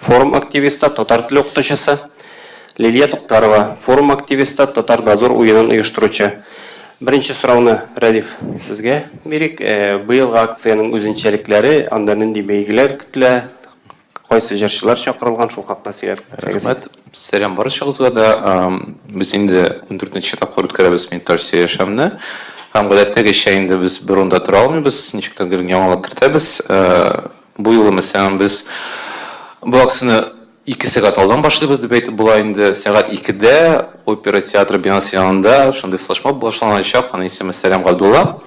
Форум активисты, татар теле укытучысы, Лилия Туктарова, форум активисты, Татар Дозор уенын оештыручы. Беренче сорауны, Рәдиф, сезгә бирик. Быелгы акциянең үзенчәлекләре, анда нинди бәйгеләр көтелә, кайсы җырчылар чакырылган, шул хакта сөйләп үтсәгез. Рәхмәт. Сәлам барчагызга да. Без инде ундүртенче тапкыр үткәрәбез Металлсия яшәвенә. Һәм гадәттәгечә инде без бер урында тора алмыйбыз, ничек тә гел яңалап кертәбез. Бу юлы, мәсәлән, без бу акцияне ике сәгать алдан башлыйбыз дип әйтеп була инде. Сәгать икедә опера театры бинасы янында шундый флешмоб башланачак, аның исеме Сәлам Габдулла.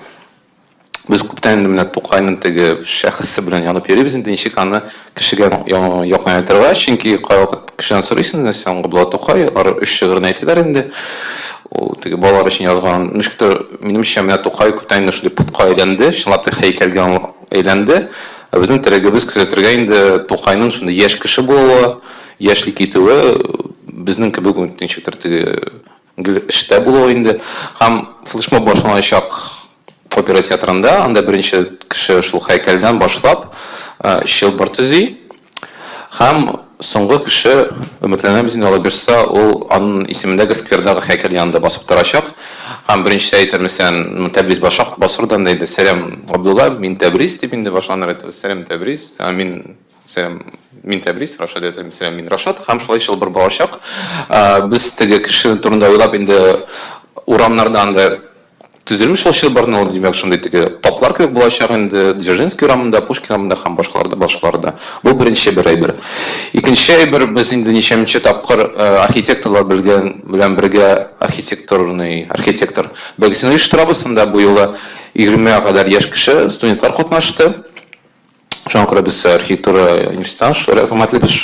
Без күптән инде менә Тукайның теге шәхесе белән янып йөрибез инде, ничек аны кешегә якынайтырга, чөнки кайвакыт кешедән сорыйсың, менә Сәлам Габдулла Тукай, алар өч шигырен әйтәләр инде, ул теге балалар өчен язган. Ничектер, минемчә, менә Тукай күптән инде шундый портка әйләнде, чынлап та һәйкәлгә Әйләнде. Ә безнең терәгебез күзәтергә инде Тукайның шундый яшь кеше булуы, яшьли китүе, безнең кебек үк ничектер теге гел эштә булуы инде. Һәм флешмоб башланачак опера театрында, анда беренче кеше шул һәйкәлдән башлап чылбыр төзи. Һәм соңгы кеше, өметләнәбез инде, Аллаһ бирса, ул анын исемендәге сквердагы һәйкәл янында басып торачак һәм беренчесе әйтер, мәсәлән, ну, Тәбриз башак, басыр да анда инде, Сәлам, Габдулла, мин Тәбриз, дип инде башланыр иде ул, Сәлам, Тәбриз, ә мин, Сәлам, мин Тәбриз, Рашат әйтер инде, Сәлам, мин Рашат, һәм шулай чылбыр барачак. Без теге кеше турында уйлап инде урамнарда анда Төзелмеш ул чылбырны ул, димәк, шундый теге таплар кебек булачак инде, Дзержинский урамында, Пушкин урамында һәм башкаларда, башкаларда. Бу беренче бер әйбер. Икенче әйбер, без инде ничәмнче тапкыр архитекторлар белгән белән бергә архитектурный, архитектор, бәйгесен оештырабыз, анда бу юлы егермегә кадәр яшь кеше, студентлар катнашты. Шуңа күрә без архитектура институтына рәхмәтлебез.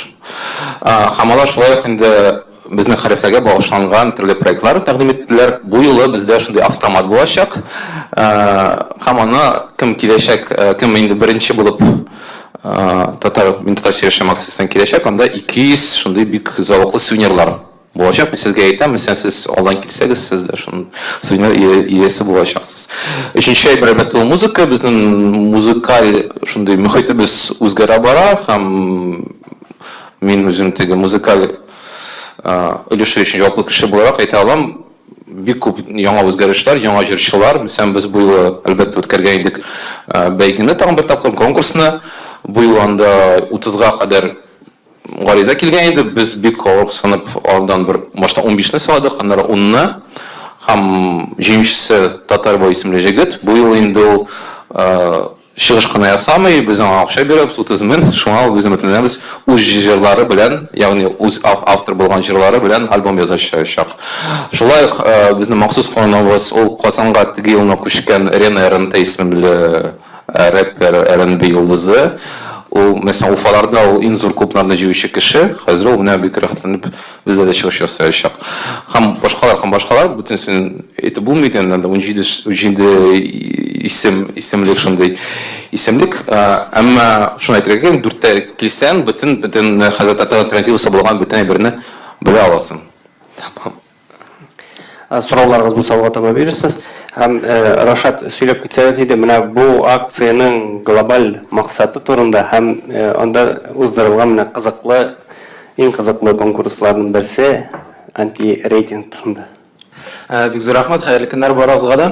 Һәм алар шулай ук инде безнең хәрефләргә багышланган төрле проектлар тәкъдим иттеләр. Бу юлы бездә шундый автомат булачак. Һәм аны кем киләчәк, кем инде беренче булып татар, мин татарча яшим акциясенә киләчәк, анда 200 шундый бик зәвыклы сувенирлар Булачак, мин сезгә әйтәм, мәсәлән, сез алдан килсәгез, сез дә шуның сувенир иясе булачаксыз. Өченче әйбер, әлбәттә, ул музыка. Безнең музыкаль шундый мөхитебез үзгәрә бара һәм мин үзем теге музыкаль өлеше өчен җаваплы кеше буларак әйтә алам, бик күп яңа үзгәрешләр, яңа җырчылар. Мәсәлән, без бу юлы, әлбәттә, үткәргән идек бәйгене тагын бер тапкыр, конкурсны. Бу юлы анда утызга кадәр Гариза килгән иде, без бик каурыксынып алдан бер башта унбишне сайладык, аннары унны. Һәм җиңүчесе Татарбай исемле җегет, бу юлы инде ул чыгыш кына ясамый, без аңа акча бирәбез, утыз мең, шуңа ул без өметләнәбез, үз җырлары белән, ягъни үз автор булган җырлары белән альбом язачачак. Шулай ук безнең махсус кунагыбыз, ул Казанга теге елны күчкән Рена РНТ исемле, Рэпер, R&B йолдызы. Ул, мәсәлән, Уфаларда ул иң зур клубларны җыючы кеше. Хәзер ул менә бик рәхәтләнеп бездә дә чыгыш ясаячак. Һәм башкалар, һәм башкалар. Бөтенесен әйтеп булмый икән, анда унҗиде, унҗиде исем, исемлек шундый исемлек. Әмма шуны әйтергә кирәк, дүрткә килсәң, бөтен, бөтен хәзер татар альтернативасы булган бөтен әйберне белә аласың. Тәмам. Сорауларыгыз булса алга таба бирерсез. Һәм Рашат сөйләп китсәгез иде, менә бу акциянең глобаль максаты турында һәм анда уздырылган менә кызыклы, иң кызыклы конкурсларның берсе антирейтинг турында. Бик зур рәхмәт, хәерле көннәр барыгызга да.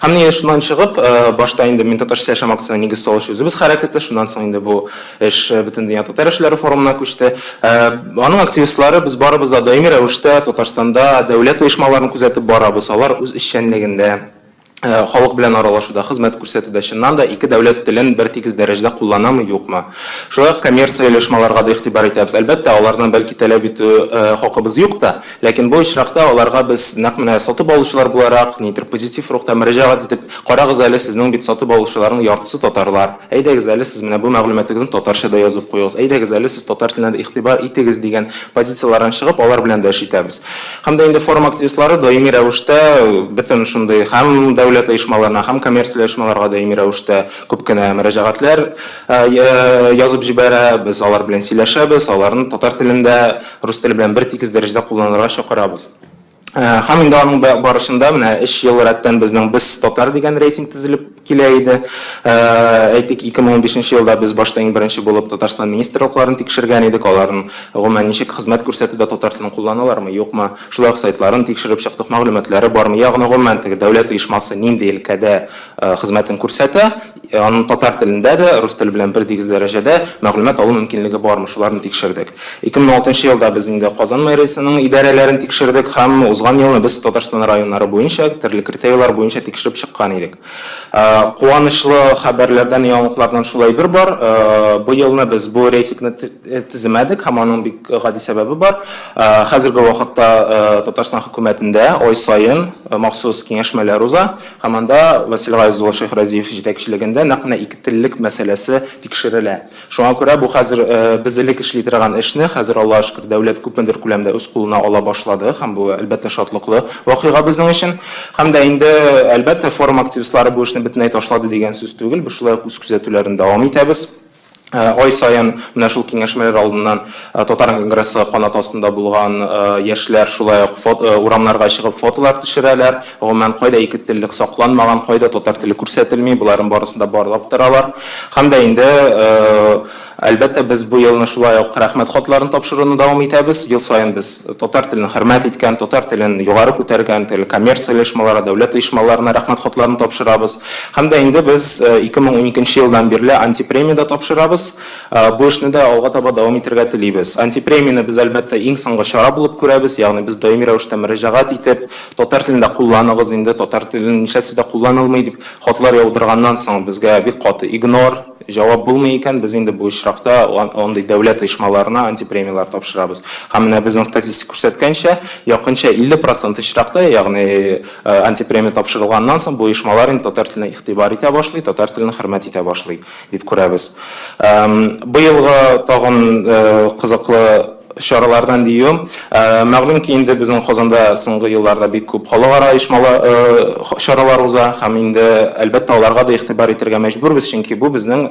Һәм менә шуннан чыгып, башта инде Мин татарча яшәм акциясенә нигез салучы үзебез хәрәкәте, шуннан соң инде бу эш Бөтендөнья татар эшләре форумына күчте. Аның активистлары без барыбыз да даими рәвештә Татарстанда дәүләт оешмаларын күзәтеп барабыз, алар үз эшчәнлегендә, халык белән аралашуда, хезмәт күрсәтүдә чыннан да ике дәүләт телен бертигез дәрәҗәдә кулланамы, юкмы? Шулай ук коммерция оешмаларга да игътибар итәбез. Әлбәттә, аларны бәлки таләп итү хакыбыз юк та. Ләкин бу очракта аларга без, нәкъ менә сатып алучылар буларак, нидер позитив рухта мөрәҗәгать итеп, Карагыз әле, сезнең бит сатып алучыларның яртысы татарлар. Әйдәгез әле, сез менә бу мәгълүматыгызны татарча да язып куегыз. Әйдәгез әле, сез татар теленә дә игътибар итегез, дигән позицияләрдән чыгып, алар белән дә эш итәбез. Һәм дә инде форум активистлары даими рәвештә бөтен шундый һәм дәүләт оешмаларына, һәм коммерцияле оешмаларга даими рәвештә күп кенә мөрәҗәгатьләр язып җибәрә. Без алар белән сөйләшәбез, аларны татар телендә, рус теле белән бертигез дәрәҗәдә кулланырга чакырабыз. Һәм инде аның барышында менә өч ел рәттән безнең Без татар дигән рейтинг төзелеп килә иде. Әйтик, 2015 елда без башта иң беренче булып Татарстан министрлыкларын тикшергән идек, аларның гомумән ничек хезмәт күрсәтүдә татар телен кулланалармы, юкмы, шулай ук сайтларын тикшереп чыктык, мәгълүматлары бармы, ягъни гомумән теге дәүләт оешмасы нинди өлкәдә хезмәтен күрсәтә, Аның татар телендә дә, рус теле белән бердигез дәрәҗәдә мәгълүмат алу мөмкинлеге бармы, шуларны тикшердек. 2006 елда без инде Казан мэриясенең идарәләрен тикшердек һәм узган елны без Татарстан районнары буенча төрле критерийлар буенча тикшереп чыккан идек. Куанычлы хәбәрләрдән, яңалыклардан шул әйбер бар, бу елны без бу рейтингны теземәдек һәм аның бик гади сәбәбе бар. Хәзерге вакытта Татарстан хөкүмәтендә ай саен махсус киңәшмәләр уза. Һәм анда Васил Гаяз улы Шәйхразиев җитәкчелегендә нәкъ менә икетеллек мәсьәләсе тикшерелә. Шуңа күрә бу хәзер без элек эшли торган эшне хәзер, Аллага шөкер, дәүләт күпмедер күләмдә үз кулына ала башлады һәм бу, әлбәттә, шатлыклы вакыйга безнең өчен. Һәм дә инде, әлбәттә, форум активистлары бу эшне бөтенләй ташлады дигән сүз түгел, без шулай ук үз күзәтүләрне дәвам итәбез. Ай саен менә шул киңәшмәләр алдыннан Татар конгрессы канаты астында булган яшьләр шулай ук урамнарга чыгып фотолар төшерәләр. Гомумән, кайда ике теллек сакланмаган, кайда татар теле күрсәтелми, боларын барысын да барлап торалар. Һәм дә инде, әлбәттә, без бу елны шулай ук рәхмәт хатларын тапшыруны дәвам итәбез. Ел саен без татар телен хөрмәт иткән, татар телен югары күтәргән, төрле коммерция оешмаларына, дәүләт оешмаларына рәхмәт хатларын тапшырабыз. Һәм дә инде без 2012 нче елдан бирле антипремия дә тапшырабыз. Бу эшне дә алга таба дәвам итәргә телибез. Антипремияне без, әлбәттә, иң соңгы чара булып күрәбез, ягъни без даими рәвештә мөрәҗәгать итеп, татар телен дә кулланыгыз инде, татар телен нишләп сездә кулланылмый, дип хатлар яудырганнан соң, безгә бик каты игнор, җавап булмый икән, без инде бу очракта андый дәүләт оешмаларына антипремияләр тапшырабыз. Һәм менә безнең статистика күрсәткәнчә, якынча 50 процент очракта, ягъни Антипремия тапшырылганнан соң, бу оешмалар инде татар теленә игътибар итә башлый, татар телен хөрмәт итә башлый, дип күрәбез. Быелгы тагын кызыклы чаралардан диюем, мәгълүм ки, инде безнең Казанда соңгы елларда бик күп халыкара оешмалы чаралар уза һәм инде, әлбәттә, аларга да игътибар итәргә мәҗбүрбез, чөнки бу безнең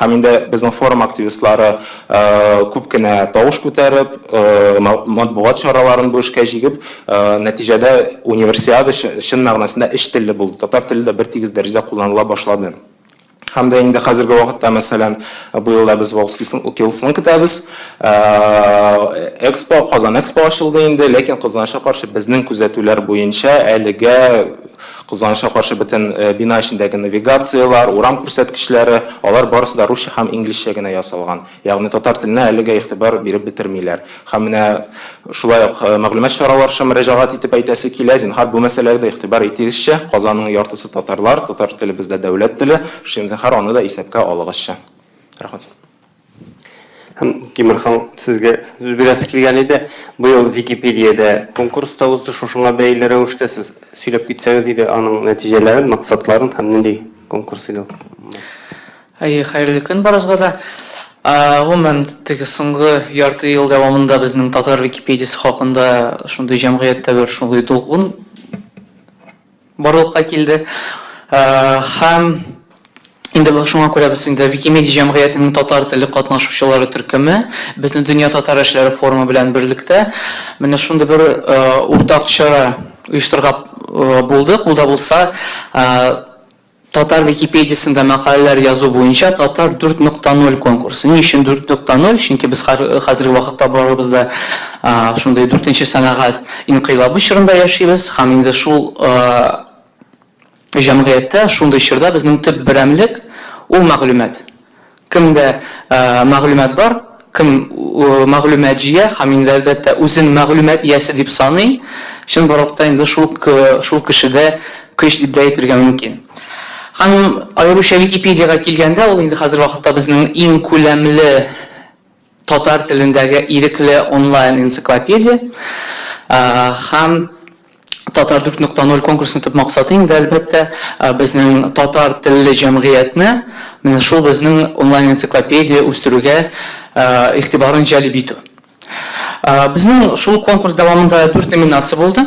Һәм инде безнең форум активистлары күп кенә тавыш күтәреп, матбугат чараларын бу эшкә җигеп, нәтиҗәдә Универсиада чын мәгънәсендә өч телле булды. Татар теле дә бертигез дәрәҗәдә кулланыла башлады. Һәм дә инде хәзерге вакытта, мәсәлән, быел да без Волжскисның утилсын көтәбез. Экспо, Казан Экспо ачылды инде, ләкин, кызганычка каршы, безнең күзәтүләр буенча, әлегә Кызганычка каршы, бөтен бина эчендәге навигацияләр, урам күрсәткечләре, алар барысы да русча һәм инглизчә генә ясалган. Ягъни татар теленә әлегә игътибар биреп бетермиләр. Һәм менә шулай ук мәгълүмат чараларча мөрәҗәгать итеп әйтәсе килә, зинһар, бу мәсьәләгә дә игътибар итегезче, Казанның яртысы татарлар, татар теле бездә дәүләт теле, шин зинһар аны да исәпкә алыгызчы. Рәхмәт. Һәм, Тимур хан, сезгә сүз бирәсе килгән иде. Быел Википедиядә конкурс та узды, шушыңа бәйле рәвештә сез сөйләп китсәгез иде, аның нәтиҗәләрен, максатларын һәм нинди конкурс иде ул? Әйе, хәерле көн барыгызга да. Гомумән, теге соңгы ярты ел дәвамында безнең татар Википедиясе хакында шундый җәмгыятьтә бер шундый дулкын, барлыкка килде һәм инде шуңа күрә без инде Викимедиа җәмгыятенең татар телле катнашучылары төркеме Бөтендөнья татар эшләре форумы белән берлектә менә шундый бер уртак чара оештырырга булдык, ул да булса, Татар Википедиясендә мәкаләләр язу буенча Татар 4.0 конкурсы. Ни өчен 4.0? Чөнки без хәзерге вакытта барыбыз да шундый дүртенче сәнәгать инкыйлабы чорында яшибез һәм инде шул җәмгыятьтә, шундый чорда безнең төп берәмлек, ул мәгълүмат. Кемдә мәгълүмат бар, кем мәгълүмат җыя һәм инде, әлбәттә, үзен мәгълүмат иясе дип саный, чын барлыкта инде шул шул кешедә көч дип дә әйтергә мөмкин. Һәм аеруча Википедиягә килгәндә, ул инде хәзерге вакытта безнең иң күләмле татар телендәге ирекле онлайн энциклопедия һәм Татар 4.0 конкурсының төп максаты инде әлбәттә безнең татар телле җәмгыятьне менә шул безнең онлайн энциклопедия үстерүгә игътибарын җәлеп итү. Безнең шул конкурс дәвамында дүрт номинация булды.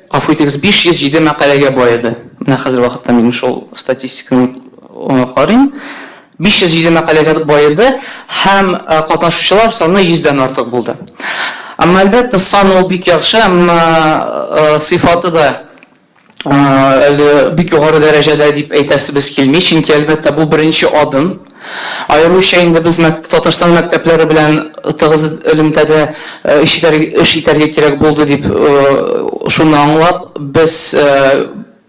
Гафу итегез, 507 мәкаләгә баеды. Менә хәзер вакытта мин шул статистиканы э, карыйм. 507 мәкаләгә баеды һәм э, катнашучылар саны 100-дән артык булды. Әмма әлбәттә сан ул бик яхшы, әмма э, сыйфаты да әле бик югары дәрәҗәдә дип әйтәсебез килми, чөнки әлбәттә бу беренче адым. Аеруча инде без Татарстан мәктәпләре белән тыгыз элемтәдә эш итәргә кирәк булды, дип шуны аңлап, без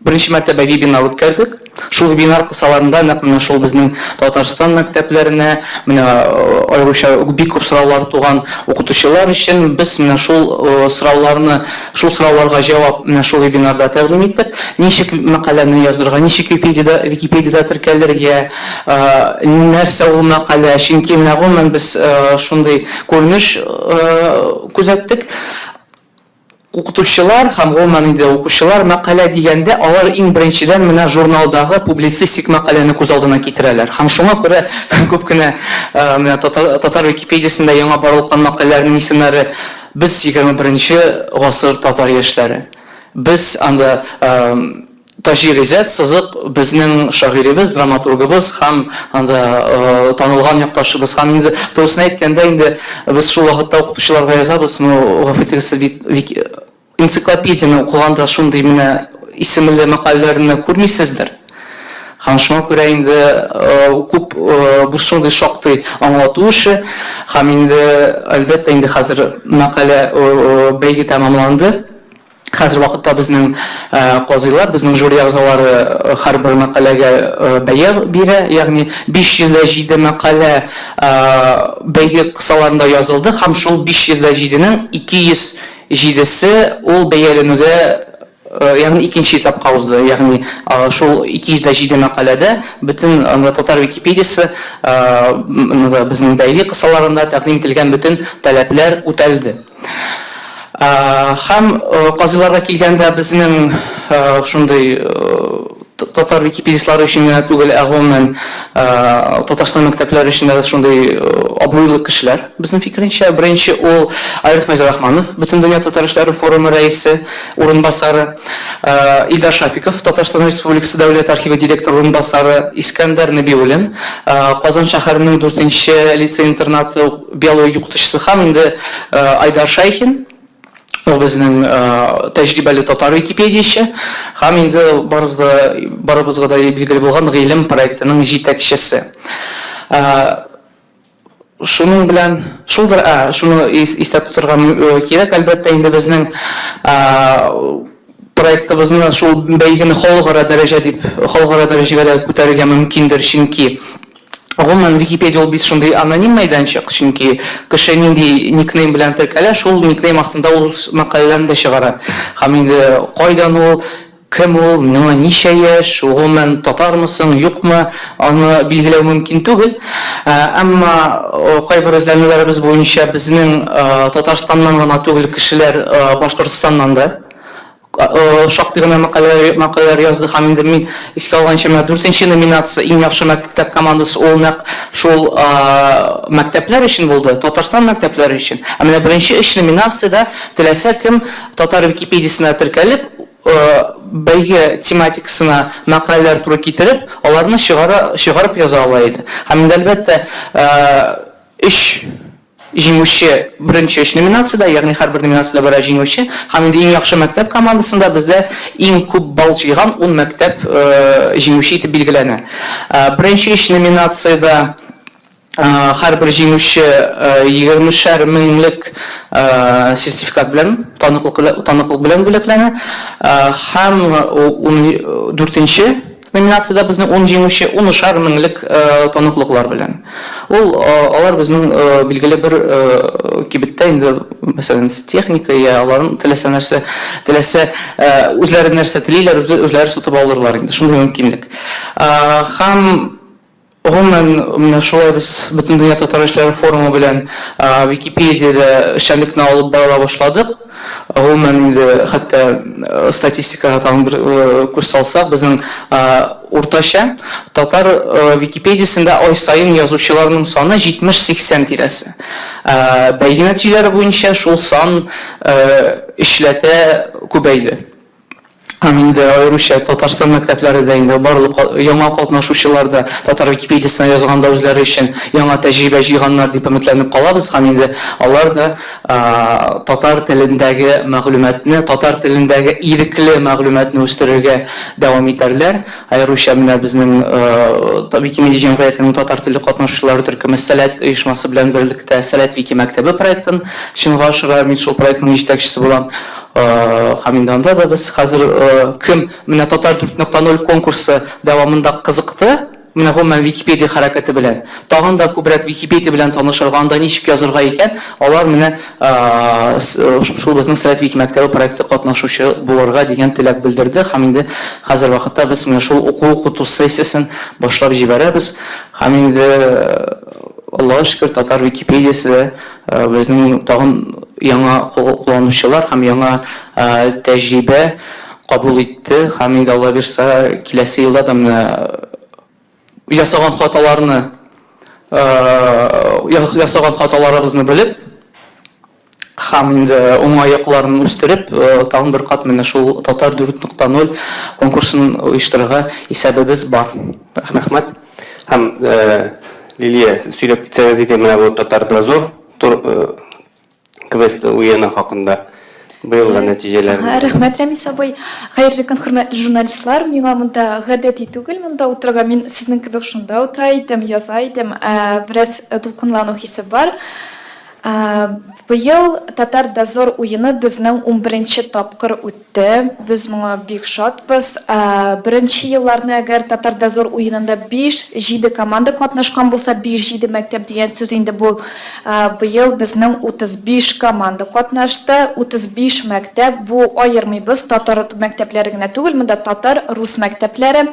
беренче мәртәбә вебинар үткәрдек. Шул вебинар кысаларында нәкъ менә шул безнең Татарстан мәктәпләренә, менә аеруча бик күп сораулар туган укытучылар өчен без менә шул сорауларны Шул сорауларга җавап менә шул вебинарда тәкъдим иттек. Ничек мәкаләне язырга, ничек Википедиядә, Википедиядә теркәлергә, нәрсә ул мәкалә, чөнки менә гомумән без шундый күренеш күзәттек. Укытучылар һәм гомумән инде укучылар мәкалә дигәндә, алар иң беренчедән менә журналдагы публицистик мәкаләне күз алдына китерәләр. Һәм шуңа күрә күп кенә менә Татар Википедиясендә яңа барлыккан мәкаләләрнең исемнәре Без егерме беренче гасыр татар яшьләре. Без анда Таҗи Гыйззәт сызык безнең шагыйребез, драматургыбыз һәм анда танылган якташыбыз. Һәм инде турысын әйткәндә, инде без шул вакытта укытучыларга язабыз, ну, гафу итегез, сез бит энциклопедияне укыганда шундый менә исемле мәкаләләрне күрмисездер. Һәм шуңа күрә инде күп бу шундый шактый аңлату эше. Һәм инде, әлбәттә, инде хәзер мәкалә бәйге тәмамланды. Хәзер вакытта безнең казыйлар, безнең жюри әгъзалары һәрбер мәкаләгә бәя бирә. Ягъни 507 мәкалә бәйге кысаларында язылды һәм шул 507 нең 207 се ул бәяләнүгә Ягъни икенче этапка узды. Ягъни шул 207 мәкаләдә бөтен татар Википедиясе ныгы безнең бәйге кысаларында тәкъдим ителгән бөтен таләпләр үтәлде. Һәм казыйларга килгәндә безнең шундый Татар википедистлары өчен генә түгел, ә гомумән Татарстан мәктәпләре өчен дә шундый абруйлы кешеләр, безнең фикеренчә. Беренче ул Айрат Фәйзрахманов, Бөтендөнья татар эшләре форумы рәисе урынбасары, Илдар Шафиков, Татарстан Республикасы Дәүләт архивы директоры урынбасары, Искәндәр Нәбиуллин, Казан шәһәренең дүртенче лицей-интернаты биология укытучысы һәм инде Айдар Шәйхин. Ул безнең тәҗрибәле татар википедияче һәм инде барыбызга да билгеле булган Гыйлем проектының җитәкчесе. Шуның белән шулдыр, шуны истә тотырга кирәк, әлбәттә, инде безнең проектыбызны шул бәйгене халыкара дәрәҗә дип, халыкара дәрәҗәгә дә күтәрергә мөмкиндер, чөнки Гомумән, Википедия ул бит шундый аноним мәйданчык, чөнки кеше нинди никнейм белән теркәлә, шул никнейм астында ул үз мәкаләләрен дә чыгара. Һәм инде кайдан ул, кем ул, миңа ничә яшь, гомумән, татармы соң, юкмы, аны билгеләү мөмкин түгел. Әмма кайбер эзләнүләребез буенча безнең Татарстаннан гына түгел кешеләр Башкортстаннан да. Шактый гына мәкаләләр язды һәм инде мин искә алганча, менә дүртенче номинация иң яхшы мәктәп командасы ул нәкъ шул мәктәпләр өчен булды, Татарстан мәктәпләре өчен. Ә менә беренче өч номинациядә теләсә кем Татар Википедиясенә теркәлеп, бәйге тематикасына мәкаләләр туры китереп, аларны чыгарып яза ала иде. Һәм инде әлбәттә, өч. Җиңүче беренче өч номинациядә, ягъни һәрбер номинациядә берәр җиңүче һәм инде иң яхшы мәктәп командасында бездә иң күп балл җыйган ун мәктәп җиңүче итеп билгеләнә. Беренче өч номинациядә һәрбер җиңүче егермешәр меңлек сертификат белән, таныклык белән бүләкләнә һәм дүртенче Номинациядә безнең ун җиңүче унышар меңлек таныклыклар белән. Ул алар безнең билгеле бер кибеттә инде, мәсәлән, техника йә аларның теләсә нәрсә, теләсә үзләре нәрсә телиләр, үзләре сатып алырлар инде, шундый мөмкинлек. Һәм. Гомумән, менә шулай без Бөтендөнья татар эшләре форумы белән Википедиядә эшчәнлекне алып бара башладык. Гомумән инде, хәтта статистикага тагын бер күз салсак, безнең уртача татар Википедиясендә ай саен язучыларның саны 70-80 тирәсе. Бәйге нәтиҗәләре буенча шул сан өчләтә күбәйде. Һәм инде аеруча Татарстан мәктәпләре дә инде барлык яңа катнашучылар да Татар Википедиясенә язганда үзләре өчен яңа тәҗрибә җыйганнар дип өметләнеп калабыз һәм инде алар да татар телендәге мәгълүматны, татар телендәге ирекле мәгълүматны үстерергә дәвам итәрләр. Аеруча менә безнең Викимедия җәмгыятенең татар телле катнашучылары төркеме Сәләт оешмасы белән берлектә Сәләт Викимәктәбе проектын чынга ашыра, мин шул проектның җитәкчесе булам. Һәм инде анда да без хәзер кем менә Татар 4.0 конкурсы дәвамында кызыкты, менә гомумән Википедия хәрәкәте белән, тагын да күбрәк Википедия белән танышырга, анда ничек язырга икән, алар менә шул безнең Совет Вики мәктәбе проекты катнашучы булырга дигән теләк белдерде. Һәм инде хәзер вакытта без менә шул уку-укыту сессиясен башлап җибәрәбез. Һәм инде Аллага шөкер, Татар Википедиясе дә Безнең тагын яңа кулланучылар һәм яңа тәҗрибә кабул итте һәм инде Алла бирса киләсе елда да менә ясаган хаталарны ясаган хаталарыбызны белеп һәм инде уңай якларын үстереп тагын бер кат менә шул Татар 4.0 конкурсын оештырырга исәбебез бар. Рәхмәт. Һәм Лилия сөйләп китсәгез иде менә бу татар дозор квест уены хакында. Быелгы нәтиҗәләр. Рәхмәт, Рәмис абый. Хәерле көн, хөрмәтле журналистлар. Миңа монда гадәти түгел монда утырырга. Мин сезнең кебек шунда утыра идем, яза идем. Бераз дулкынлану хисе бар. Быел Татар-дозор уены безнең унберенче тапкыр үтте. Без моңа бик шатбыз. Беренче елларны әгәр Татар-дозор уенында биш, җиде команда катнашкан булса, биш, җиде мәктәп дигән сүз инде бу. Быел безнең утыз биш команда катнашты, утыз биш мәктәп. Бу, аермыйбыз, татар мәктәпләре генә түгел, монда татар, рус мәктәпләре.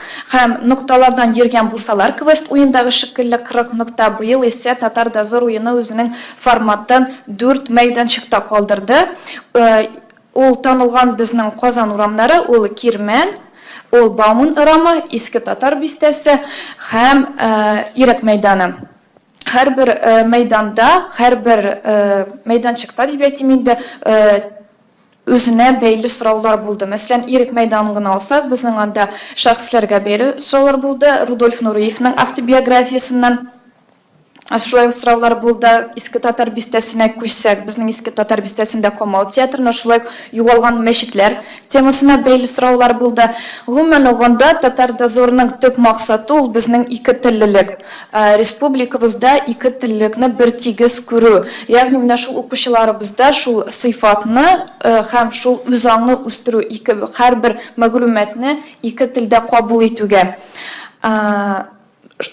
Һәм, нокталардан йөргән булсалар, квест уендагы шикелле 40 нокта, быел исә Татар дозор уены үзенең форматын дүрт мәйданчыкта калдырды. Ул танылган безнең Казан урамнары, ул Кирмән, ул Бауман ырамы, Иске Татар бистәсе һәм Ирек мәйданы. Һәрбер мәйданда, һәрбер мәйданчыкта дип әйтим инде, Үзенә бәйле сораулар булды. Мәсәлән, Ирек мәйданын гына алсак, безнең анда шәхесләргә бәйле сораулар булды, Рудольф Нуриевның автобиографиясеннән шулай ук сораулар булды. Иске Татар бистәсенә күчсәк, безнең Иске Татар бистәсендә Камал театрына, шулай ук югалган мәчетләр темасына бәйле сораулар булды. Гомумән алганда, Татар дозорының төп максаты, ул безнең икетеллелек. Республикабызда ике теллекне бертигез күрү, ягъни менә шул укучыларыбызда шул сыйфатны һәм шул үзаңны үстерү, ике һәрбер мәгълүматны ике телдә кабул итүгә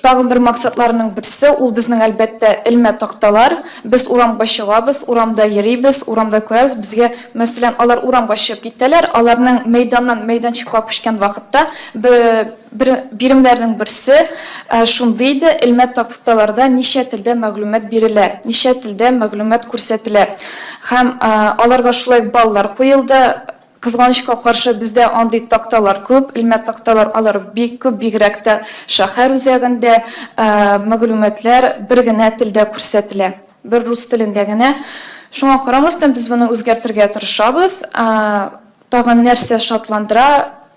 тагын бер максатларның берсе, ул безнең, әлбәттә, элмә такталар. Без урамга чыгабыз, урамда йөрибез, урамда күрәбез, безгә, мәсәлән, алар урамга чыгып китәләр, аларның мәйданнан мәйданчыкка күчкән вакытта, бе, Бер биремнәрнең берсе шундый иде, элмә такталарда ничә телдә мәгълүмат бирелә, ничә телдә мәгълүмат күрсәтелә. Һәм аларга шулай ук баллар куелды. Кызганычка каршы, бездә андый такталар күп, элмә такталар алар бик күп, бигрәк тә шәһәр үзәгендә мәгълүматлар бер генә телдә күрсәтелә, бер рус телендә генә. Шуңа карамастан, без моны үзгәртергә тырышабыз. Тагын нәрсә шатландыра?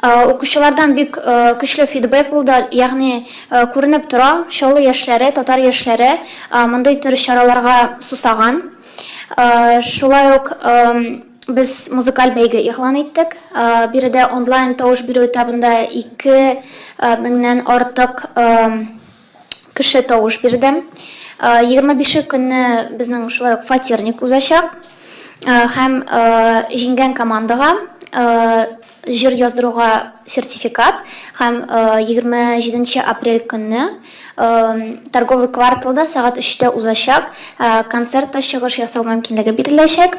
Укучылардан бик көчле фидбэк булды, ягъни күренеп тора, Чаллы яшьләре, татар яшьләре мондый төр чараларга сусаган. Шулай ук без музыкаль бәйге игълан иттек. Биредә онлайн тавыш бирү этабында ике меңнән артык кеше тавыш бирде. Егерме бише көнне безнең шулай ук фатирник узачак. Һәм җиңгән командага җыр яздыруга сертификат һәм егерме җиденче апрель көнне торговый кварталда сәгать өчтә узачак концертта чыгыш ясау мөмкинлеге биреләчәк.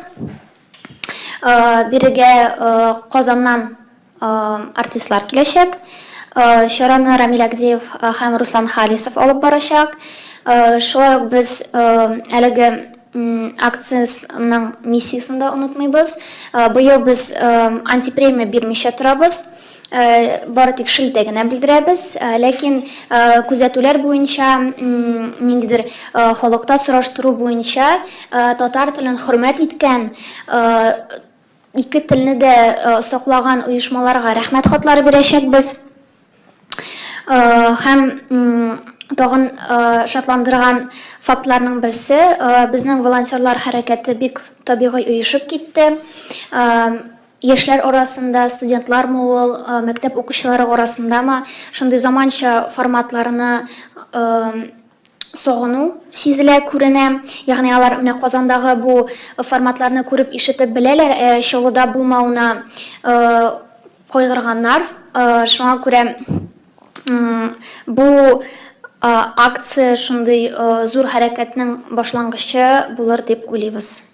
Бирегә Казаннан артистлар киләчәк. Чараны Рамил Агдеев һәм Руслан Халисов алып барачак. Шулай ук без әлеге акциясенең миссиясен дә онытмыйбыз. Быел без антипремия бирмичә торабыз. бары тик шелтә генә белдерәбез. Ләкин күзәтүләр буенча, ниндидер халыкта сораштыру буенча, татар телен хөрмәт иткән, ике телне дә саклаган оешмаларга рәхмәт хатлары бирәчәкбез. Һәм тагын шатландырган фактларның берсе, безнең волонтерлар хәрәкәте бик табигый оешып китте. Яшьләр арасында, студентлармы ул, мәктәп укучылары арасындамы, шундый заманча форматларны сагыну сизелә, күренә. Ягъни алар менә Казандагы бу форматларны күреп-ишетеп беләләр, ә Чаллыда булмавына кайгырганнар. Шуңа күрә бу акция шундый зур хәрәкәтнең башлангычы булыр дип уйлыйбыз.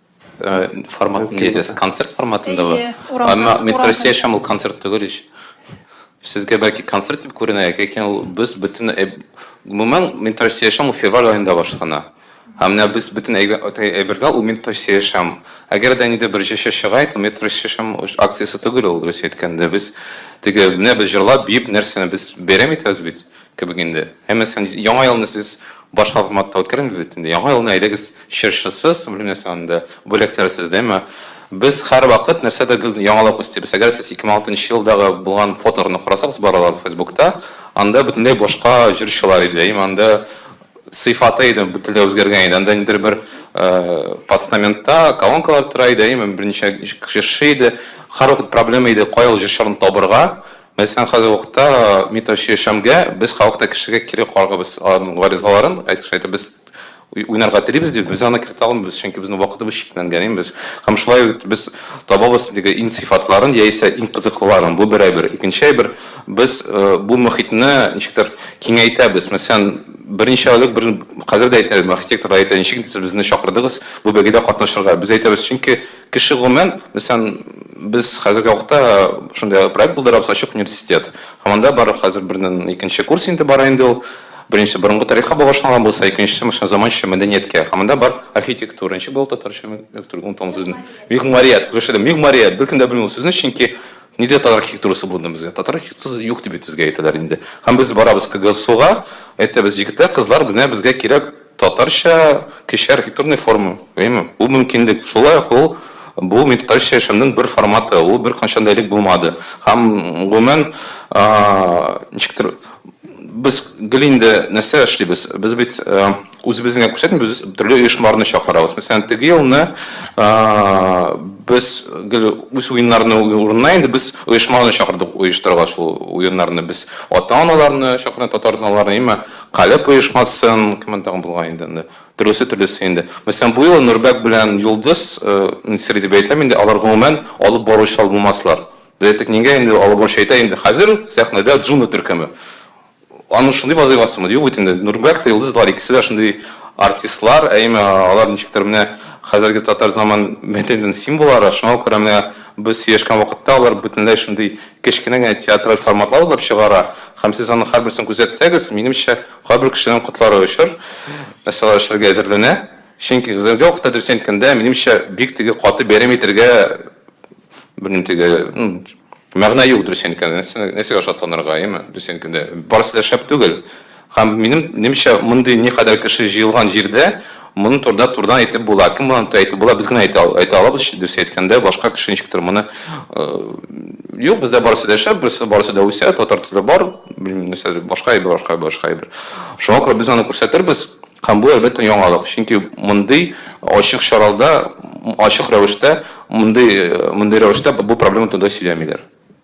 Э, формат не идес, концерт форматында ва. Әмма мин просешам ул концерт түгел ич. Сезгә бәлки концерт дип күренә, ләкин ул без бөтен э, гомумән мин просешам ул февраль аенда башлана. Ә менә без бөтен әйбердә ул мин просешам. Әгәр дә нидә бер җеше чыга ит, мин просешам акциясе түгел ул, дөрес әйткәндә. Без теге менә без җырлап, биеп нәрсәне без бәйрәм итәбез бит. Кебек инде. Һәммәсен Яңа елны сез башка форматта үткәрәбез бит инде. Яңа елны әйдәгез чыршысыз, белмим нәрсә анда, бүләкләр сездәме? Без һәрвакыт нәрсәдер гел яңалап үстибез. Әгәр сез 2006 елдагы булган фотоларны карасагыз балалар фейсбукта, анда бөтенләй башка җырчылар иде. Әйеме, анда сыйфаты иде бөтенләй үзгәргән иде. Анда нидер бер постаментта колонкалар тора иде, әйеме, берничә җырчы иде. Һәрвакыт проблема иде, кая ул җырчыларны табырга. Мәсәлән, хәзерге вакытта Митоши Шәмгә без халык та кешегә кире кагабыз. Аның гаризаларын, әйтик шайтып, без уйнарга телибез ди, без аны кертә алмыйбыз, чөнки безнең вакытыбыз чикләнгән, ин без. Һәм шулай ук без табабыз теге ин сыйфатларын яисә ин кызыклыларын. Бу бер әйбер. Икенче әйбер, без бу мөхитне ничектер киңәйтәбез. Мәсәлән, берничә элек бер хәзер дә әйтәм, архитекторлар әйтә, ничек инде сез безне чакырдыгыз бу бәйгедә катнашырга? Без әйтәбез, чөнки Кеше гомумән, мәсәлән, без хәзерге вакытта шундый проект булдырабыз, ачык университет. Һәм анда бар хәзер бердән икенче курс инде бара инде ул. Беренче борынгы тарихка багышланган булса, икенчесе машина заманча мәдәнияткә. Һәм анда бар архитектура, ничек була ул татарча, онытам ул сүзне. Мигъмарият, күрәш идем, мигъмарият. Беркем дә белми ул сүзне, чөнки ниндидә татар архитектурасы булды безгә. Татар архитектурасы юк дип бит безгә әйтәләр инде. Һәм без барабыз КГСУга, әйтәбез, егетләр, кызлар, менә безгә кирәк Татарча кече архитектурный форма, әйеме? Ул мөмкинлек. Шулай ук ул, бу меткалча яшәүнең бер форматы, ул беркайчан да элек булмады. Һәм, гомумән, ничектер, без гел инде нәрсә эшлибез? Без бит үзебезне генә күрсәтмибез, без төрле оешмаларны чакырабыз. Мәсәлән, теге елны без гел үз уеннарны урынына инде без оешмаларны чакырдык оештырырга шул уеннарны. Без ата-аналарны чакырдык, татар аталарны, әйеме? Калеб оешмасын, кемнәр тагын булган инде анда, төрлесе төрлесе инде. Мәсәлән, бу юлы Нурбәк белән Йолдыз, мин сер итеп әйтәм инде, алар гомумән алып баручылар булмаслар. Без әйттек, нигә инде алып баручы әйтә инде, хәзер сәхнәдә Джуна төркеме. Аның шундый вазыйфасымы? Юк бит инде, Нурбәк тә, Йолдыз да, алар икесе дә шундый артистлар, әйеме, алар ничектер менә хәзерге татар заман мәдәниятенең символлары, шуңа күрә менә без сөйләшкән вакытта алар бөтенләй шундый Кечкенә генә театраль форматлар уйлап чыгара һәм сез аның һәрберсен күзәтсәгез, минемчә, кайбер кешеләрнең котлары очыр, нәрсәләр эшләргә әзерләнә. Чөнки хәзерге вакытта, дөресен әйткәндә, минемчә, бик теге каты бәйрәм итәргә, белмим, теге, мәгънә юк, дөресен әйткәндә. Нәрсә, нәрсәгә шатланырга, әйеме? Дөресен әйткәндә, барысы да шәп түгел. Һәм минем немчә мондый никадәр кеше җыелган җирдә моны турыда турыдан әйтеп була. Кем моны турыда әйтеп була, без генә әйтә, әйтә алабыз, дөрес әйткәндә, башка кеше ничектер моны юк, бездә барысы да шәп, берсе барысы да үсә, татар теле бар, белмим нәрсә, башка әйбер, башка башка әйбер. Шуңа күрә без аны күрсәтербез. Һәм бу әлбәттә яңалык, чөнки мондый ачык чаралда, ачык рәвештә, мондый мондый рәвештә бу проблема турында сөйләмиләр.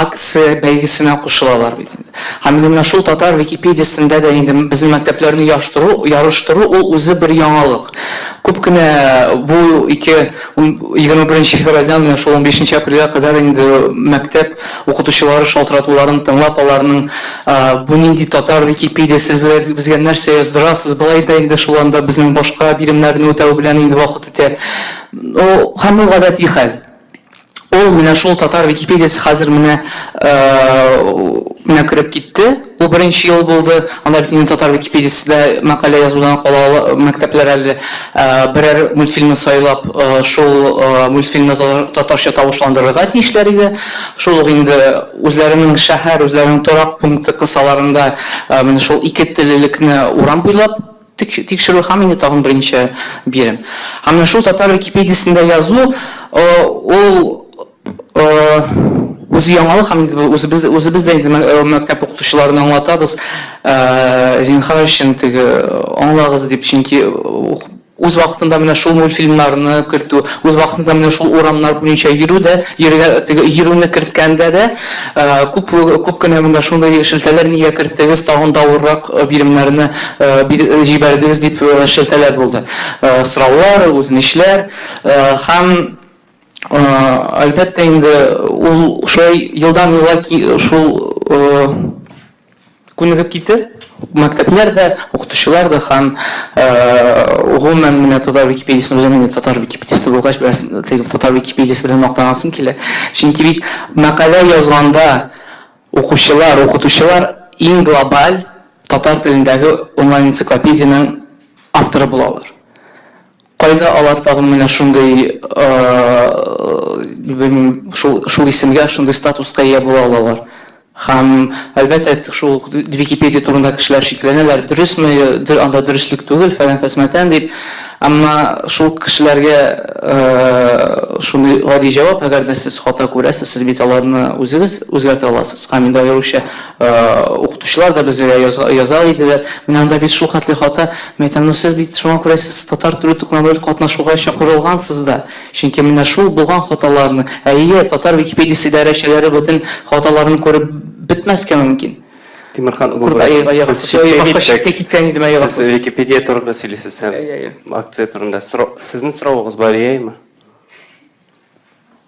акция бәйгесенә кушылалар бит инде. Һәм инде менә шул татар Википедиясендә дә инде безнең мәктәпләрне яштыру, ярыштыру ул үзе бер яңалык. Күп кенә бу ике, егерме беренче февральдән менә шул унбишенче апрельгә кадәр инде мәктәп укытучылары шалтыратуларын тыңлап, аларның бу нинди татар Википедия, сез безгә нәрсә яздырасыз, болай да инде шул анда безнең башка биремнәрне үтәү белән инде вакыт үтә. Ну, һәм ул гадәти хәл. Ул менә шул татар википедиясе хәзер менә менә кереп китте. Бу беренче ел булды. Анда бит инде татар википедиясе дә мәкалә язудан кала мәктәпләр әле берәр мультфильмны сайлап, шул мультфильмны татарча тавышландырырга тиешләр иде. Шул ук инде үзләренең шәһәр, үзләренең торак пункты кысаларында менә шул ике теллелекне урам буйлап, Тикшерү һәм инде тагын берничә бирем. Һәм менә шул татар википедиясендә язу ул үзе яңалык һәм инде үзебез үзебез дә инде мәктәп укытучыларына аңлатабыз. Зинхар өчен теге аңлагыз дип, чөнки үз вакытында менә шул мультфильмнарны кертү, үз вакытында менә шул урамнар буенча йөрү дә, йөрүне керткәндә дә Күп, күп кенә монда шундый шелтәләр нигә керттегез, тагын да авыррак биремнәрне җибәрдегез дип шелтәләр булды. Сораулар, үтенечләр һәм, әлбәттә инде, ул шулай елдан-ел шул, Күнегеп китте. Мәктәпләр дә, укытучылар да һәм, гомумән, менә татар Википедиясен үзем инде татар Википедисты булгач, бераз теге татар Википедиясе белән мактанасым килә. Чөнки бит мәкалә язганда укучылар, укытучылар иң глобаль татар телендәге онлайн-энциклопедиянең авторы булалар. Кайда алар тагын менә шундый, белмим, шул, шул исемгә, шундый статуска ия була алалар? Һәм, әлбәттә, шул ук Википедия турында кешеләр шикләнәләр, дөресме, дө, анда дөреслек түгел, фәлән-фәсмәтән дип. Әмма шул кешеләргә шундый гади җавап, әгәр дә сез хата күрәсез, сез бит аларны үзегез үзгәртә аласыз. Һәм инде аеруча. Укытучылар да безгә яза иделәр. Менә анда бит шул хәтле хата. Мин әйтәм, ну сез бит шуңа күрә сез Татар теле тукнамыйль катнашуга чакырылгансыз да. Чөнки менә шул булган хаталарны, әйе, татар Википедиясе идарәчеләре бөтен хаталарны күреп бетмәскә мөмкин. Тимерхан Гобаев, без читкә киткән идем, әйе. Сез Википедия турында сөйлисез һәм акция турында. Сезнең соравыгыз бар, яме?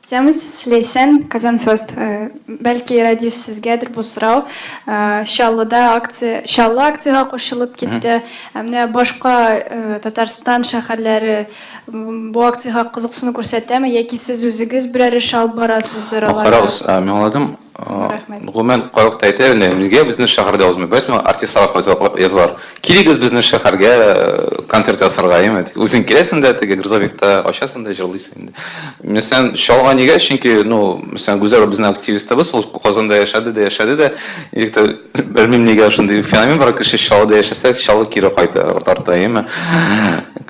Китәбез, Ләйсән, Казанфест. Бәлки, Рәдиф, сезгәдер бу сорау. Чаллыда акция, Чаллы акциягә кушылып китте. Ә менә башка Татарстан шәһәрләре бу акциягә кызыксыну күрсәтәме, яки сез үзегез берәр эш алып барасыздыр аларга? Карагыз, мин аңладым. Рәхмәт. Гомумән, кайвакыт әйтә иде, нигә безнең шәһәрдә узмый? Бәлки соң артистларга кайзак язылар. Килегез безнең шәһәргә концерт ясарга, яме. Үзең киләсең дә, теге грузовикта ачасың да җырлыйсың инде. Мәсәлән, Чалга нигә? Чөнки, ну, мәсәлән, Гүзәл безнең активистыбыз, ул Казанда яшәде дә яшәде дә. Ничек тә, белмим, нигә шундый феномен бар, кеше Чаллыда яшәсә, Чаллы кире кайта, тарта, яме.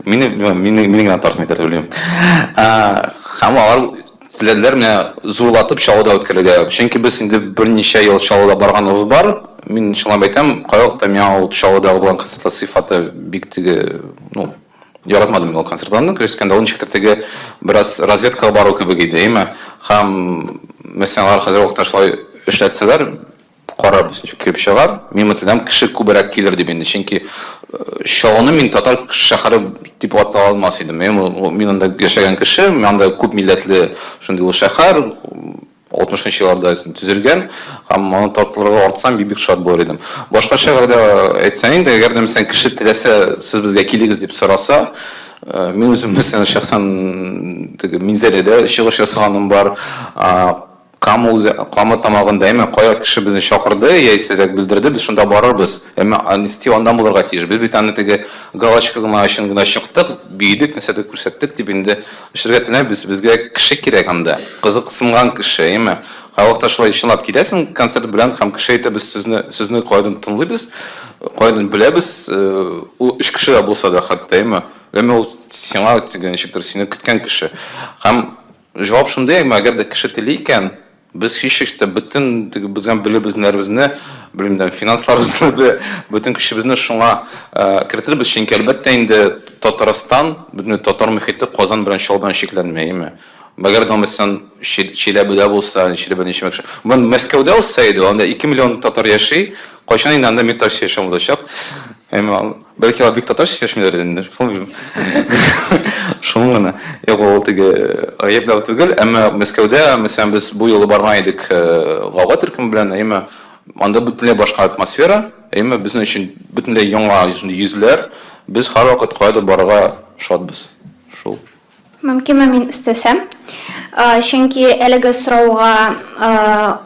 Мине, мине генә тартмыйдыр, дип уйлыйм. Һәм алар Теләделәр менә зурлатып чаллыда үткәрергә. Чөнки без инде берничә ел Чаллыда барганыбыз бар. Мин чынлап әйтәм, кайвакыт миңа ул Чаллыдагы булган концертлар сыйфаты бик теге, ну, яратмадым мин ул концертларны, дөрес әйткәндә, ул ничектер теге бераз разведкага бару кебек иде, әйеме? Һәм, месьенар хәзерге вакытта шулай эшләтсәләр, Карарбыз, ничек килеп чыгар. Мин үтенәм, кеше күбрәк килер дип инде, чөнки Чаллыны мин татар шәһәре дип ата алмас идем. Мин, мин анда яшәгән кеше, анда күп милләтле шундый ул шәһәр, 60 нчы елларда төзелгән, һәм моны тартылырга артсам, бик-бик шат булыр идем. Башка шәһәрдә әйтсәң инде, әгәр дә мәсәлән кеше теләсә, сез безгә килегез дип сораса, мин үзем мәсәлән шәхсән теге Минзәләдә чыгыш ясаганым бар, Кама үзе, Кама тамагында, әмма кая кеше безне чакырды, яисә дә белдерде, без шунда барырбыз. Әмма Анисти аннан булырга тиеш. Без бит аны теге галочка гына өчен генә чыктык, биедек, нәрсәдер күрсәттек дип инде эшләргә теләмибез. Безгә кеше кирәк анда, кызыксынган кеше, әйеме? Кайвакытта шулай чынлап киләсең концерт белән һәм кеше әйтә, без сезне, сезне кайдан тыңлыйбыз, кайдан беләбез, ул өч кеше дә булса да хәтта, әйеме? Әмма ул сиңа теге ничектер сине көткән кеше. Һәм. Җавап шундый, әгәр дә кеше тели икән, без һичшиксез дә бөтен теге бөтен белем-белемнәребезне, белмим дә, финансларыбызны да, бөтен көчебезне шуңа кертербез, чөнки, әлбәттә инде, Татарстан, бөтен татар мохите Казан белән Чаллы белән чикләнмәеме? Әгәр дә исән Чиләбедә булса, Чиләбе ничек яхшы. Бон Мәскәүдә узса иде, анда ике миллион татар яши, кайчан инде анда мең татар яшәмәячәк. Бәлки алар бик татарча сөйләшмиләрдер инде, шуны белмим. Шуны гына. Юк, ул теге гаепләү түгел, әмма Мәскәүдә, мәсәлән, без бу юлы барган идек Гава төркеме белән, әйеме, анда бөтенләй башка атмосфера, әйеме, безнең өчен бөтенләй яңа йөзләр, без һәрвакыт каядыр барырга шатбыз. Шул. Мөмкинме мин өстәсәм? Чөнки әлеге сорауга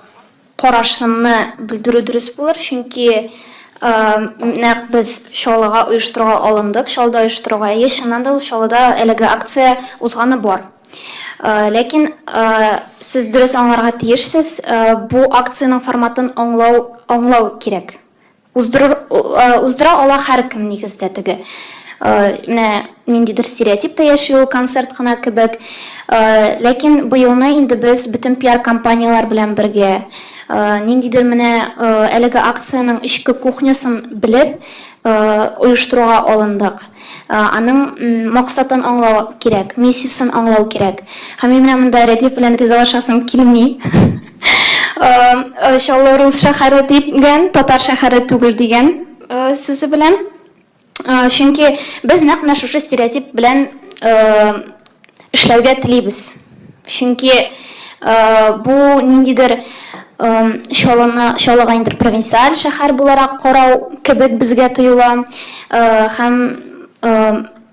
Карашымны белдерү дөрес булыр, чөнки нәкъ без чалыга оештыруга алындык, чалыда оештыруга. Әйе, чыннан да ул чалыда әлеге акция узганы бар. Ләкин сез дөрес аңларга тиешсез, бу акциянең форматын аңлау аңлау кирәк. Уздырыр уздыра ала һәркем нигездә теге менә ниндидер стереотип та яши ул концерт кына кебек ләкин быелны инде без бөтен пиар компанияләр белән бергә ниндидер менә әлеге акциянең эчке кухнясын белеп оештыруга алындык аның максатын аңлау кирәк миссиясен аңлау кирәк һәм мин менә монда рәдиф белән ризалашасым килми Чаллы рус шәһәре дигән, татар шәһәре түгел дигән сүзе белән. Чөнки без нәкъ менә шушы стереотип белән эшләргә телибез. Чөнки бу ниндидер чаллыны чаллыга ниндидер провинциаль шәһәр буларак карау кебек безгә тоела. Һәм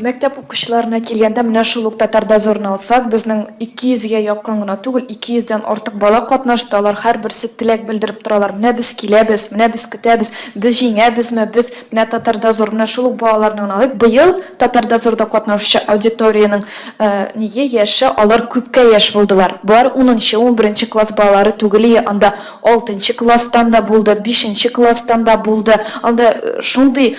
Мәктәп укучыларына килгәндә, менә шул ук Татар дозорын алсак, безнең 200 гә якын гына түгел, 200 дән артык бала катнашты, алар һәрберсе теләк белдереп торалар, менә без киләбез, менә без көтәбез, без җиңәбезме, без, менә Татар дозор, менә шул ук балаларны гына алыйк, быел Татар дозорда катнашучы аудиториянең ние яше, алар күпкә яшь булдылар, болар унынчы, унберенче класс балалары түгелие, анда алтынчы класстан да булды, бишенче класстан да булды, анда шундый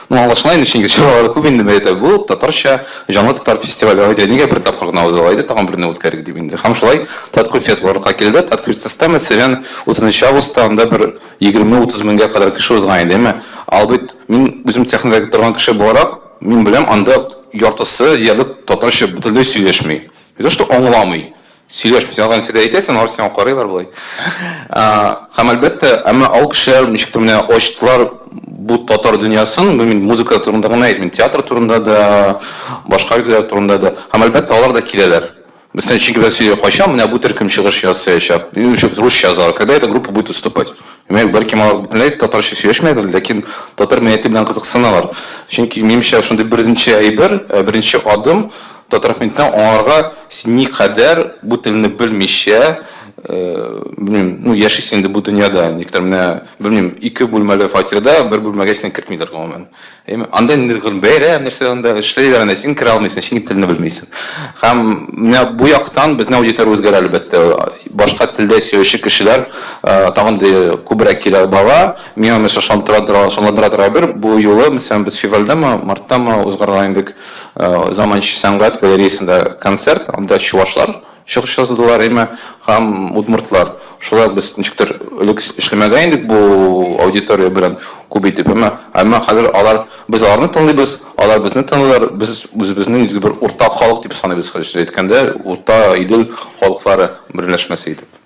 Ну, аңлашыла инде, чөнки чаралары күп инде, бәйрәм бу, татарча, җанлы татар фестивале, әйдә, нигә бер тапкыр гына уза, әйдә, тагын берне үткәрик дип инде. Һәм шулай Таткульфест барлыкка килде. Таткульфест системасы белән утызынчы августта анда бер егерме-утыз меңгә кадәр кеше узган иде, әмма албит, мин үзем техникада торган кеше буларак, мин беләм, анда яртысы диярлек татарча бөтенләй сөйләшми. Не то что аңламый. Сөйләш, син алай нәрсә дә әйтәсең, алар сиңа карыйлар болай. Һәм әлбәттә, әмма ал кешеләр ничектер менә ачтылар бу татар дөньясын, бу мин музыка турында гына әйтмим, театр турында да, башка өлкәләр турында да. Һәм әлбәттә, алар да киләләр. Бездән чөнки без сөйлиләр, кайчан менә бу төркем чыгыш ясаячак, русча язалар, когда эта группа будет выступать. Димәк, бәлкем алар бөтенләй татарча сөйләшмәгәндер, ләкин татар мәдәнияте белән кызыксыналар. Чөнки, минемчә, шундый беренче әйбер, беренче адым, Татархмитны аңарга син никадәр бу телне белмичә, белмим, ну яшисең инде бу дөньяда, никтер менә, белмим, ике бүлмәле фатирда бер бүлмәгә сине кертмиләр гомумән. Әйме, анда инде гел бәйрәм, нәрсә анда эшлиләр, әнә син керә алмыйсың, чөнки телне белмисең. Һәм менә бу яктан безнең аудитория үзгәрә әлбәттә. Башка телдә сөйләүче кешеләр тагын да күбрәк килә бара. Миңа, мәсәлән, ышандыра торган, ышандыра торган әйбер, бу юлы, мәсәлән, без февральдәме, марттамы узгарган идек. Заманча сәнгать галереясында концерт, анда чувашлар чыгыш ясадылар, әмма һәм удмуртлар. Шулай без ничектер элек эшләмәгән идек бу аудитория белән күп итеп, әмма әмма хәзер алар без аларны тыңлыйбыз, алар безне тыңлыйлар, без үзебезне ничек бер уртак халык дип саныйбыз, хәзерчә әйткәндә, урта Идел халыклары берләшмәсе итеп.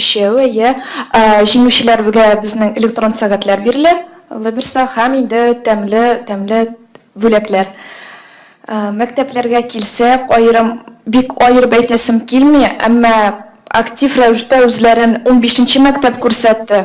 Өчәү, әйе. Җиңүчеләрбгә безнең электрон сәгатьләр бирелә, Алла бирса, һәм инде тәмле, тәмле бүләкләр. Мәктәпләргә килсәк, аерым, бик аерып әйтәсем килми, әмма актив рәвештә үзләрен унбишенче мәктәп күрсәтте.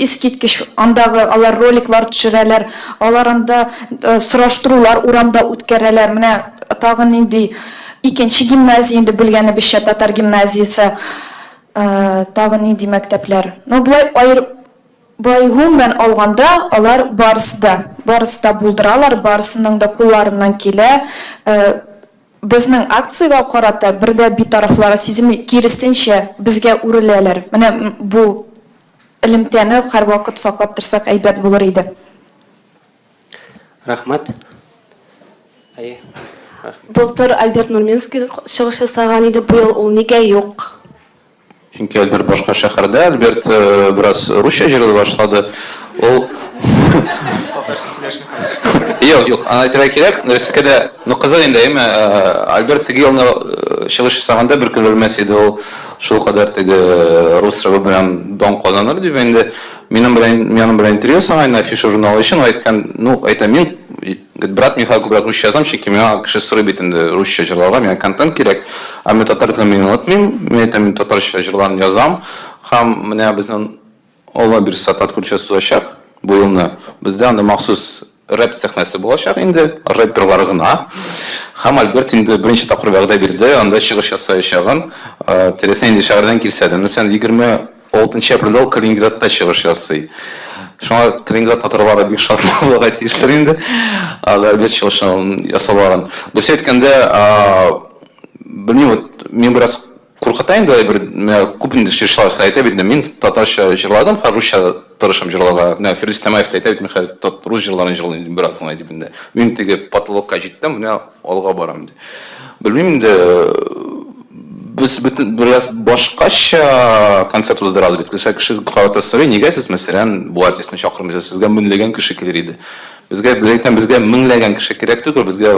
Искиткеч, андагы алар роликлар төшерәләр, алар анда сораштырулар урамда үткәрәләр, менә тагын нинди икенче гимназия инде белгәнебезчә татар гимназиясе, тагын нинди мәктәпләр, ну болай аерып болай гомумән алганда алар барысы да, барысы да булдыралар, барысының да кулларыннан килә, безнең акциягә карата бер дә битарафлары сизелми, киресенчә, безгә үреләләр, менә бу Элемтәне һәрвакыт саклап торсак әйбәт булыр иде. Рәхмәт. Әйе. Рәхмәт. Былтыр Альберт Нурминский чыгыш ясаган иде, бу ел ул нигә юк? Чөнки Альберт башка шәһәрдә. Альберт бераз русча җырлый башлады. Ул Татарча сөйләшми хәзер. Юк, юк, аны әйтергә кирәк. Рәсикә дә, ну кызык инде, әйеме? Альберт теге елны чыгыш ясаганда бер көн белмәс иде ул. шул кадәр теге рус рыбы белән дан казаныр дип инде минем белән минем белән интервью саңайны афиша журналы өчен әйткән ну әйтә мин брат михаил күбрәк русча язам чөнки миңа кеше сорый бит инде русча җырларга миңа контент кирәк ә мин татар телен мин онытмыйм мин әйтәм мин татарча җырларны язам һәм менә безнең Алла бирса, конкурсчы узачак бу елны. Бездә анда махсус рэп сәхнәсе булачак инде, рэперлар гына. Һәм Альберт инде беренче тапкыр вәгъдә бирде, анда чыгыш ясаячагын. Теләсә нинди шәһәрдән килсә дә. Мәсәлән, 26 нчы апрельдә ул Калининградта чыгыш ясый. Шуңа Калининград татарлары бик шат булырга тиештер инде, анда Альберт чыгышын ясауларын. Дөресен әйткәндә, белмим, вот мин бераз Куркыта инде бер менә күп инде җырчылар шулай әйтә бит инде, мин татарча җырладым, хәзер русча тырышам җырларга. Менә Фирдүс Тямаев та әйтә бит, мин хәзер рус җырларын җырлыйм дип бераз гына дип инде. Мин теге потолокка җиттем, менә алга барам ди. Белмим инде, без бөтен бераз башкача концерт уздырабыз бит. Кеше кеше карата сорый, нигә сез мәсәлән бу артистны чакырмыйсыз, сезгә мөнләгән кеше килер иде. Безгә, без әйтәм, безгә меңләгән кеше кирәк түгел, безгә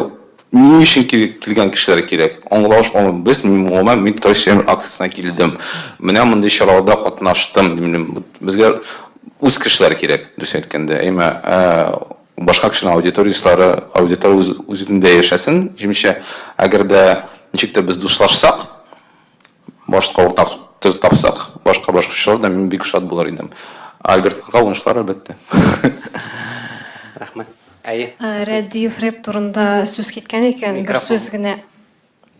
Ни өчен кил, килгән кешеләр кирәк? Аңлаш алым, без, гомумән, мин Татар чирәм акциясенә килдем, менә мондый чараларда катнаштым, дим, безгә үз кешеләр кирәк, дөресен әйткәндә, әйме, ә башка кешенең аудиториясләре, аудитория үз, үзендә яшәсен, җимешә, әгәр дә ничек тә без дуслашсак, башка уртак тез тапсак, башка башкортлар да мин бик шат булыр идем. Альбертларга уңышлар әлбәттә. Рәхмәт. Әйе. Рәдиев рэп турында сүз киткән икән, бер сүз генә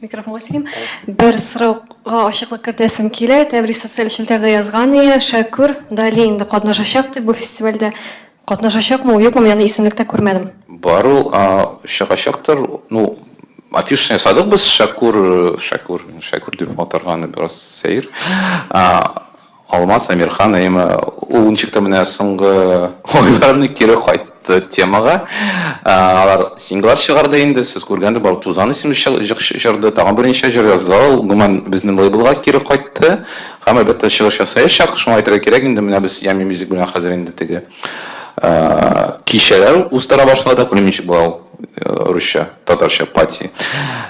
микрофонга сөйлим. Бер сорауга ачыклык кертәсем килә. Тәбрис социаль челтәрдә язган иде, Шәкүр Дали инде катнашачак дип бу фестивальдә. Катнашачакмы ул, юкмы, мин аны исемлектә күрмәдем. Бар ул, чыгачактыр. Ну, афишаны ясадык без, Шәкүр, Шәкүр, Шәкүр дип атарга аны бераз сәер. Алмаз Әмирхан, әйеме, ул ничек тә менә соңгы айларны кире кайтты темага. Алар синглар чыгарды инде, сез күргәндер, бар Тузан исемле җыр җырды, тагын берничә җыр язды. Ул, гомумән, безнең лейблга кире кайтты. Һәм әлбәттә чыгыш ясаячак, шуңа әйтергә кирәк инде, менә без Yummy Music белән хәзер инде теге кичәләр уздыра башладык, белмим ничек була ул русча, татарча пати.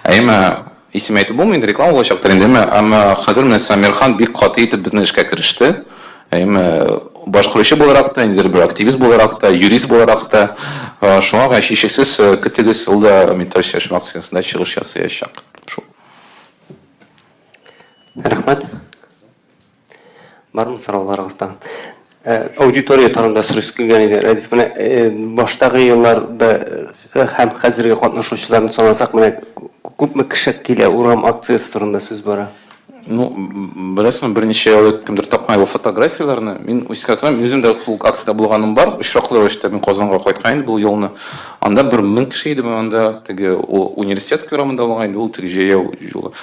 Әмма исем әйтеп булмый инде, реклама булачактыр инде, әмма, әмма хәзер менә Самирхан бик каты итеп безнең эшкә кереште. Әмма башкаручы буларак та, ниндидер бер активист буларак та, юрист буларак та, шуңа күрә һичшиксез көтегез, ул да Металл чәчү акциясендә чыгыш ясаячак. Шул. Рәхмәт. Бармы сорауларыгыз тагын? Э, аудитория турында сорыйсы килгән иде, Рәдиф. Менә э, баштагы елларда э, һәм хәзерге катнашучыларны санасак, менә күпме кеше килә, урам акциясе турында сүз бара. Ну, беләсеңме, берничә ел элек кемдер тапкан иде фотографияләрне. Мин искә торам, үзем дә шул акциядә булганым бар. Очраклы рәвештә мин Казанга кайткан идем бу елны. Анда бер мең кеше иде, анда теге университет урамында булган иде, ул теге җәяү юлы.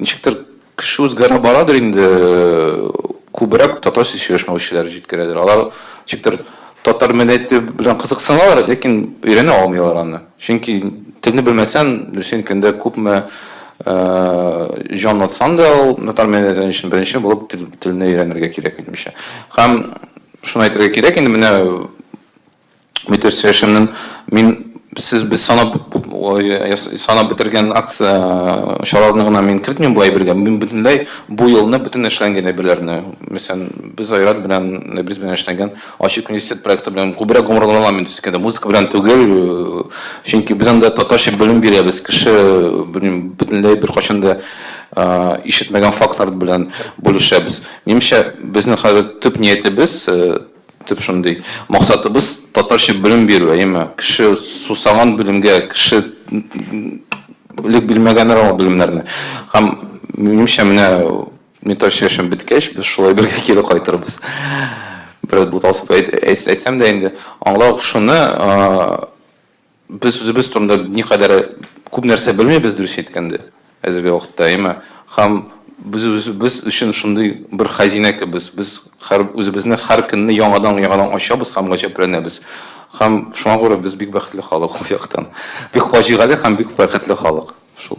Ничектер кеше үзгәрә барадыр инде, күбрәк татарча сөйләшмәүчеләр җиткерәдер. Алар ничектер татар мәдәнияте белән кызыксыналар, ләкин өйрәнә алмыйлар аны. Чөнки телне белмәсән, дөресен әйткәндә, күпме җан атсан да, ул татар мәдәнияте өчен беренче булып телне өйрәнергә кирәк, минемчә. Һәм шуны әйтергә кирәк, инде менә Мөдир Сәшемнен мин сез без санап санап бетергән акция чараларны гына мин кертмим бу әйбергә. Мин бөтенләй бу елны бөтен эшләнгән әйберләрне, мәсәлән, без Айрат белән Нәбрис белән эшләнгән Ачык университет проекты белән күбрәк гомерләнәм мин төскәндә. Музыка белән түгел, чөнки без анда татарча белем бирәбез. Кеше белмим бөтенләй беркайчан да ишетмәгән фактлар белән бүлешәбез. Минемчә, безнең хәзер төп ниятебез Төп шундый максатыбыз татарча белем бирү, әйеме? Кеше сусаган белемгә, кеше элек белмәгәннәр аңа белемнәрне. Һәм минемчә менә метро чәчен беткәч, без шулай бергә кире кайтырбыз. Бераз буталсып әйтсәм дә инде, аңлау шуны, Без үзебез турында никадәр күп нәрсә белмибез, дөресен әйткәндә, әзерге вакытта, әйеме? Һәм без үзебез өчен шундый бер хәзинә кебез, без хәр үзебезне һәр көнне яңадан-яңадан ачабыз һәм гаҗәпләнәбез. Һәм шуңа күрә без бик бәхетле халык ул яктан. Бик фаҗигале һәм бик бәхетле халык шул.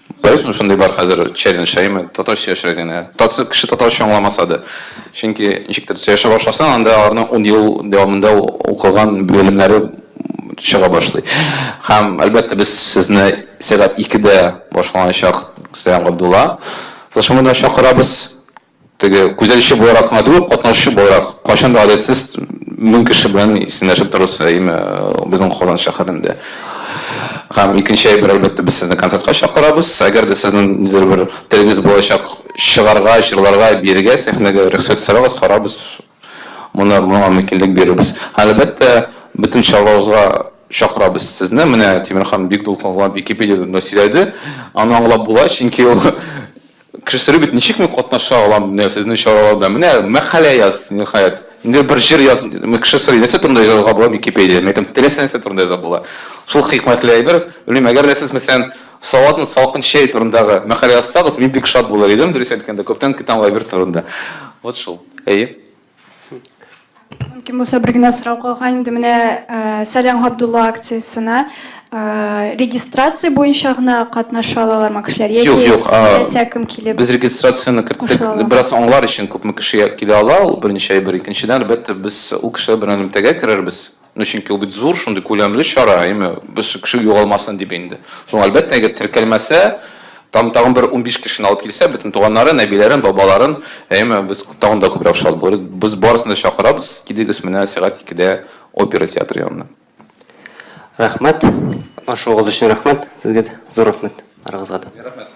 Беләсезме, шундый бар хәзер челлендж әйме, татарча яшәргә генә. Татсы кеше татарча аңламаса да. Чөнки ничектер төсә яшәп башласаң, анда аларның ун ел дәвамында укыган белемнәре чыга башлый. Һәм, әлбәттә, без сезне сәгать икедә башланачак Сәлам Габдулла тылшымына чакырабыз. Теге күзәтүче буларак кына түгел, катнашучы буларак кайчан да гадәтсез мең кеше белән исәнләшеп торасы әйме безнең Казан шәһәрендә. Һәм икенче әйбер, әлбәттә, без сезне концертка чакырабыз. Әгәр дә сезнең нидер бер телегез булачак, чыгарга, җырларга, биергә сәхнәгә, рөхсәт сорагыз, карабыз. Моны моңа мөмкинлек бирербез. Һәм, әлбәттә, бөтен чараларыбызга чакырабыз сезне. Менә Тимерхан бик дулкынланып Википедиядән дә сөйләде. Аны аңлап була, чөнки ул Кешеләр бит ничек мин катнаша алам, менә сезнең чараларда. Менә мәкалә яз, ниһаять. Инде бер җыр яз. Кешеләр нәрсә турында язарга була Википедия? Мин әйтәм, теләсә нәрсә турында яза була. Шул хикмәтле әйбер. Белмим, әгәр дә сез, мәсәлән, салатны салкын чәй турындагы мәкалә язсагыз, мин бик шат булыр идем, дөрес әйткәндә, күптән көтәм ул әйбер турында. Вот шул. Әйе. Мөмкин булса, бер генә сорау калган инде. Менә Сәлам Габдулла акциясенә регистрация буенча гына катнаша алалармы кешеләр яки теләсә кем килеп? Без регистрацияне керттек. Бераз аңлар өчен күпме кеше килә ала, ул беренче әйбер. Икенчедән, әлбәттә, без ул кешеләр белән элемтәгә керербез. Ну, чөнки ул бит зур, шундый күләмле чара, әйме, без кеше югалмасын дип инде. Шуң, әлбәттә, әгәр теркәлмәсә, там тагын бер 15 кешене алып килсә, бөтен туганнарын, әбиләрен, бабаларын, әйме, без тагын да күбрәк шат булырбыз. Без барысын да чакырабыз, килегез менә сәгать икедә опера театры янына. Рәхмәт. Катнашуыгыз өчен рәхмәт. Сезгә дә зур рәхмәт. Арыгызга да. Рәхмәт.